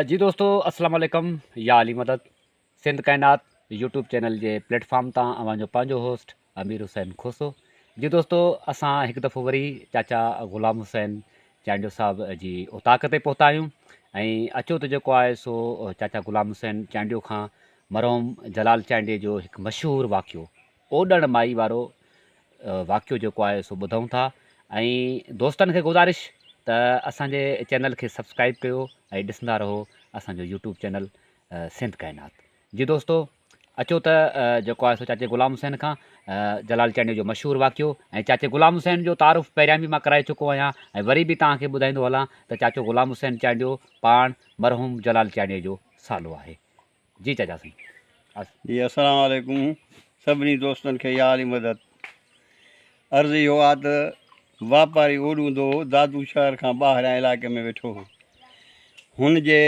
جي دوستو اسلام عليڪم يا علي مدد سنڌ ڪائنات يوٽيوب چينل جي پليٽ فارم تان اوهان جو پنهنجو هوسٽ امير حسين کوسو جي دوستو اسان هڪ دفعو وري چاچا غلام حسين چانڊيو صاحب جي اوطاق تي پهتا آهيون ۽ اچو ته جيڪو آهي سو چاچا غلام حسين چانڊيو کان مرحوم جلال چانڊيي جو هڪ مشهور واقعو اوڏڻ مائي وارو واقعو جيڪو آهي سو ٻڌون ٿا ۽ دوستن کي گذارش ته اسانجي چينل کي سبسڪرائب ڪيو ۽ ڏسندا رهو اسانجو يوٽيوب چينل سنڌ ڪائنات جي دوستو اچو ته جيڪو آهي سو چاچي غلام حسين کان جلال چانڊيو جو مشهور واقعو ۽ چاچي غلام حسين جو تعارف پهريان به مان ڪرائي چڪو آهيان ۽ وري به توهان کي ٻڌائيندو هلان ته چاچو غلام حسين چانڊيو پاڻ مرحوم جلال چانڊيو جو سالو آهي جي چاچا سائين بس. جي اسلام عليڪم سڀني دوستن کي يا علي مدد عرض اهو آ ته واپاري اوڏون دو دادو شهر کان ٻاهريان علائقي ۾ ويٺو هو هن جي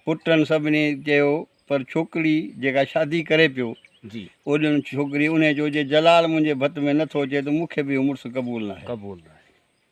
پٽن سڀني چيو پر ڇوڪري جيڪا شادي ڪري پيو جي اوڏين ڇوڪري انهي چيو جي جلال منهنجي ڀت ۾ نه ٿو اچي ته مون کي به اهو مڙس قبول ناهي قبول ناهي.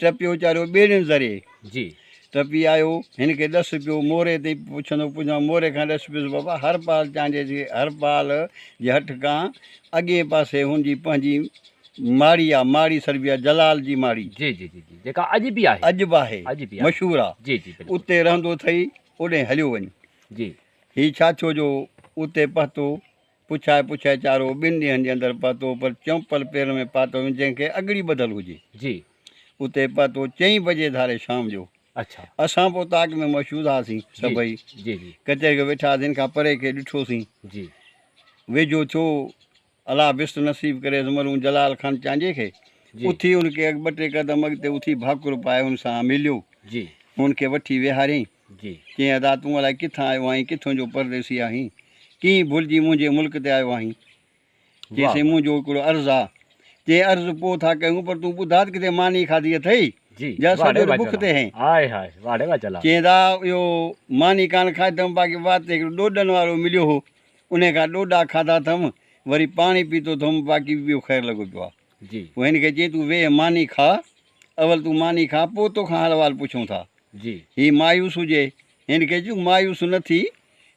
ٽپي ويچارو ٻيڙين ذري جي ٽپي آيو هن کي ڏس پيو موري تي پڇندو پڇندو موري کان ڏس پيس بابا هرپال چانڊيي جي هرپال جي هٺ کان اڳئين پاسي هن جي پنهنجي ماڙي آ ماڙي سڏبي آ جلال جي ماڙي جي جي جي جي جيڪا اڄ به آهي اڄ به آهي اڄ به آهي مشهور آ جي جي بلڪل اتي رهندو اٿئي اوڏهين هليو وڃ جي هي ڇا ٿيو جو اتي پهتو پڇائي پڇائي چارو ٻن ڏينهن جي اندر پهتو پر چمپل پيرن ۾ پاتو وڃي جنهن کي اڳڙي ٻڌل هجي جي. اتي پهتو چئين بجي ڌاري شام جو اڇا. اسان پوء تاڪ ۾ مشهود هئاسين جي سڀئي جي جي. ڪچهري کي ويٺا هئاسين کان پري کي ڏٺوسين جي. ويجهو ٿيو الله بست نصيب ڪريس مرحوم جلال خان چانڊيي کي جي. اٿي هن کي ٻه ٽي قدم اڳتي اٿي ڀاڪر پائي هن سان مليو جي. هن کي وٺي ويهاريائين. چيائين ادا تون الائي ڪٿان آيو آهين ڪٿون جو پرديسي آهين ڪيئن ڀلجي منهنجي ملڪ تي آيو آهين چيسين منهنجو هڪڙو عرض آ چي عرض پو ٿا ڪيون پر تون ٻڌات ڪٿي ماني کاڌي اٿئي جا سڄو ڏينهن بک تي هين چيائين ادا اهو ماني ڪانه کاڌي اٿم باقي وات تي هڪڙو ڏوڏن وارو مليو هو انهي کان ڏوڏا کاڌا اٿم وري پاڻي پيتو اٿم باقي ٻيو خير لڳو پيو آ پو هن کي چيائين تون ويهه ماني کاء اول تون ماني کاء پوء توکان حال احوال پڇون ٿا. هي مايوس هجي هن کي چون مايوس نه ٿي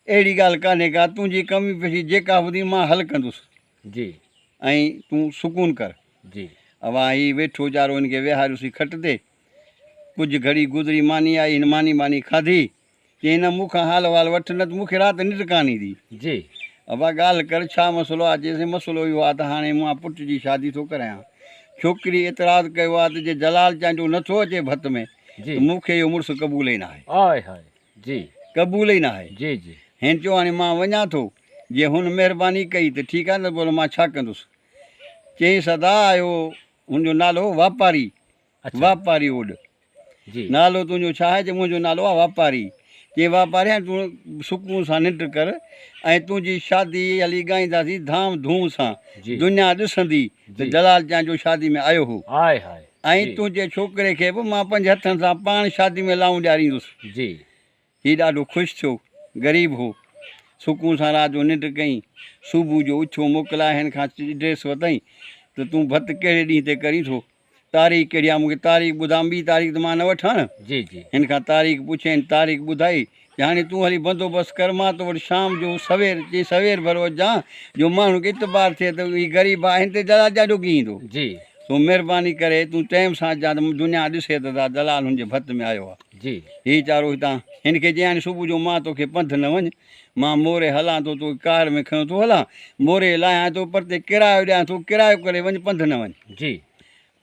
اهڙي ڳالهه ڪانهي ڪا تنهنجي ڪمي پيشي جيڪا هوندي مان حل ڪندس ۽ تون سڪون ڪر. اوهان هي ويٺو ويچارو هن کي ويهاريوسين کٽ تي ڪجهه گهڙي گذري ماني آئي هن ماني ٻاني کاڌي چيائين نه مون کان حال وال وٺ نه ته مون کي رات ننڊ ڪانه ايندي. جي. ابا ڳالهه ڪر ڇا مسئلو آ؟ چيس مسئلو اهو آ ته هاڻي مان پٽ جي شادي ٿو ڪرايان. ڇوڪري اعتراض ڪيو آ ته جي جلال چانڊيو نه ٿو اچي ڀت ۾ جي. ته مون کي اهو مڙس قبول ئي ناهي. آء هاء. جي. قبول ئي ناهي. جي جي. هن چيو هاڻي مان وڃان ٿو. جي هن مهرباني ڪئي ته ٺيڪ آ نه ته پوء مان ڇا ڪندس. چيائينس ادا اهو هن جو نالو هو واپاري. واپاري اوڏ، نالو تنهنجو ڇا آهي؟ چي، منهنجو نالو آهي واپاري. چي، واپاري هاڻي تون سڪون سان ننڊ ڪر ۽ تنهنجي شادي هلي ڳائينداسين ڌام ڌوم سان. دنيا ڏسندي ته جلال چانهه جو شادي ۾ آيو هو. ۽ تنهنجي ڇوڪري کي به مان پنهنجي هٿن سان پاڻ شادي ۾ لائون ڏياريندس. هي ڏاڍو خوش ٿيو. غريب هو. سڪون سان رات جو ننڊ ڪيائين. صبح جو اٿيو موڪلائي هن کان ڊريس ورتائين ته تون ڀت ڪهڙي ڏينهن تي ڪرين ٿو؟ تاريخ ڪهڙي آهي؟ مون کي تاريخ ٻڌاء، ٻي تاريخ ته مان نه وٺان. هن کان تاريخ پڇيائين، تاريخ ٻڌائي ته هاڻي تون هلي بندوبست ڪر، مان تو وٽ شام جو سوير، چيائين سوير ڀر اچجان، جو ماڻهن کي اعتبار ٿئي ته هي غريب آهي، هن تي دلال ڏاڍو ڪيئي ايندو. سو مهرباني ڪري تون ٽيم سان اچجان ته دنيا ڏسي ته دلال هن جي ڀت ۾ آيو آهي. جي هي چارو هتان. هن کي چيائين صبح جو مان توکي پنڌ نه وڃ، مان موري هلان ٿو، توکي ڪار ۾ کنيو ٿو هلان، موري لاهيان ٿو، پرتي ڪرايو ڏيان ٿو، ڪرايو ڪري وڃ، پنڌ نه وڃ. جي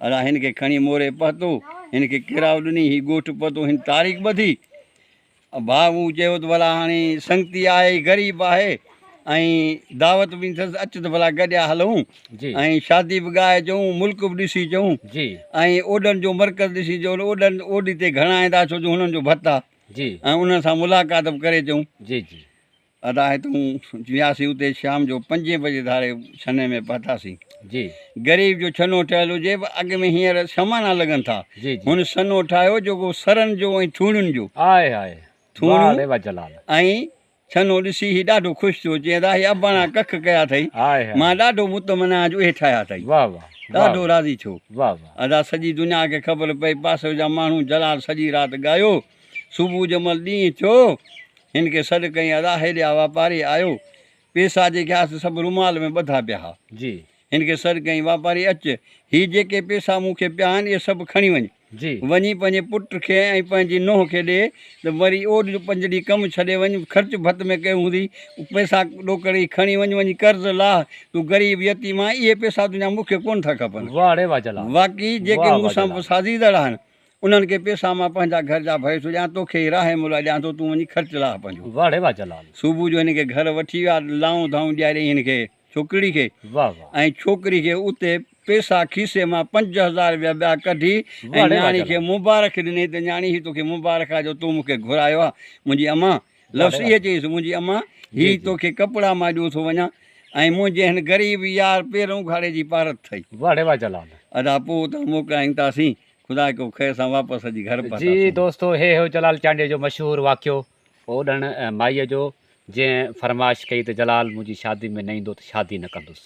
ادا هن کي کڻي موري پهتو، هن کي ڪرايو ڏني، هي ڳوٺ پهتو، هن تاريخ ٻڌي. ڀاء مون چيو ته ڀلا هاڻي سنگتي آهي، غريب آهي، ۽ دعوت به ڏنس اچ ته ڀلا گڏيا هلون ۽ شادي به ڳائي اچون ملڪ به ڏسي اچون ۽ اوڏن جو مرڪز ڏسي اچون اوڏن اوڏي تي گهڻا ايندا ڇو جو هنن جو ڀت آ جي ۽ انهن سان ملاقات به ڪري اچون جي جي ادا هتون وياسي اتي شام جو پنجين بجي ڌاري ڇني ۾ پهتاسي جي غريب جو ڇنو ٺهيل هجي به اڳ ۾ هينئر سمانا لڳن ٿا جي جي هن سنو ٺاهيو جيڪو سرن جو ۽ ٿوڻين جو آهي آهي ٿوڻيون ۽ ڇنو ڏسي هي ڏاڍو خوش ٿيو، چيائين، راهي اباڻا ڪک ڪيا اٿئي، مان ڏاڍو مطمئن آهيان جو اهي ٺاهيا اٿئي. ڏاڍو راضي ٿيو. ادا سڄي دنيا کي خبر پئي، پاسي جا ماڻهو جلال سڄي رات ڳايو. صبح جي مهل ڏينهن ٿيو، هن کي سڏ ڪيائين، ادا هيڏي آ واپاري آيو، پيسا جيڪي هئا سي سڀ رومال ۾ ٻڌا پيا هئا. هن کي سڏ ڪيائين، واپاري اچ، هي جيڪي پيسا مون کي پيا آهن، اهي سڀ کڻي وڃ. وڃي پنهنجي پٽ کي ۽ پنهنجي نونهن کي ڏي ته وري اوڏ جو پنج ڏينهن ڪم ڇڏي وڃ، خرچ ڀت ۾ ڪيو هوندي، اهي پيسا ڏوڪڙ هي کڻي وڃ، وڃي قرض لاهه، تون غريب يتيم آهين، اهي پيسا تنهنجا مون کي ڪونه ٿا کپن. واقعي جيڪي مون سان سازيندڙ آهن، انهن کي پيسا مان پنهنجا گهر جا ڀري ٿو ڏيان، توکي هي راهي ملهه ڏيان ٿو، تون وڃي خرچ لاهه پنهنجو. صبح جو هن کي گهر وٺي ويا، لائون ڌائون ڏياريائين هن کي. ڇوڪري کي ۽ ڇوڪري کي اتي پيسا کيسي مان پنج هزار روپيا ٻيا ڪڍي ۽ نياڻي کي مبارڪ ڏني ته نياڻي هي توکي مبارڪ آ جو تون مون کي گهرايو آ منهنجي اما لفظ اهي چيس منهنجي اما هي توکي ڪپڙا مان ڏيو ٿو وڃان ۽ منهنجي هن غريب يار پيرن اگهاڙي جي پارت ٿئي. واڙي واھ جلال. ادا پوء اتان موڪلائين تاسين خدا ڪيو خير سان واپس اچي گهر پهتاسون. جي دوستو هي هيو جلال چانڊيي جو مشهور واقعو اوڏڻ ۽ مائيء جو جنهن فرمائش ڪئي ته جلال منهنجي شادي ۾ نه ايندو ته شادي نه ڪندس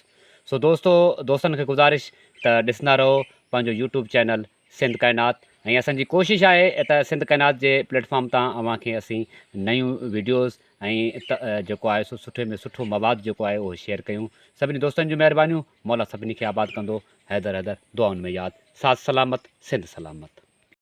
سو دوستو دوستن کي گذارش ته ڏسندا رهو پنهنجو يوٽيوب چينل سنڌ ڪائنات ۽ اسان جي ڪوشش آهي ته سنڌ ڪائنات جي پليٽ فارم تان اوهان کي اسين نيون ويڊيوز ۽ جيڪو آهي سو سٺي ۾ سٺو مواد جيڪو آهي اهو شيئر ڪيون سڀني دوستن جون مهربانيون مولا سڀني کي آباد ڪندو حيدر حيدر دعائن ۾ ياد ساٿ سلامت سنڌ سلامت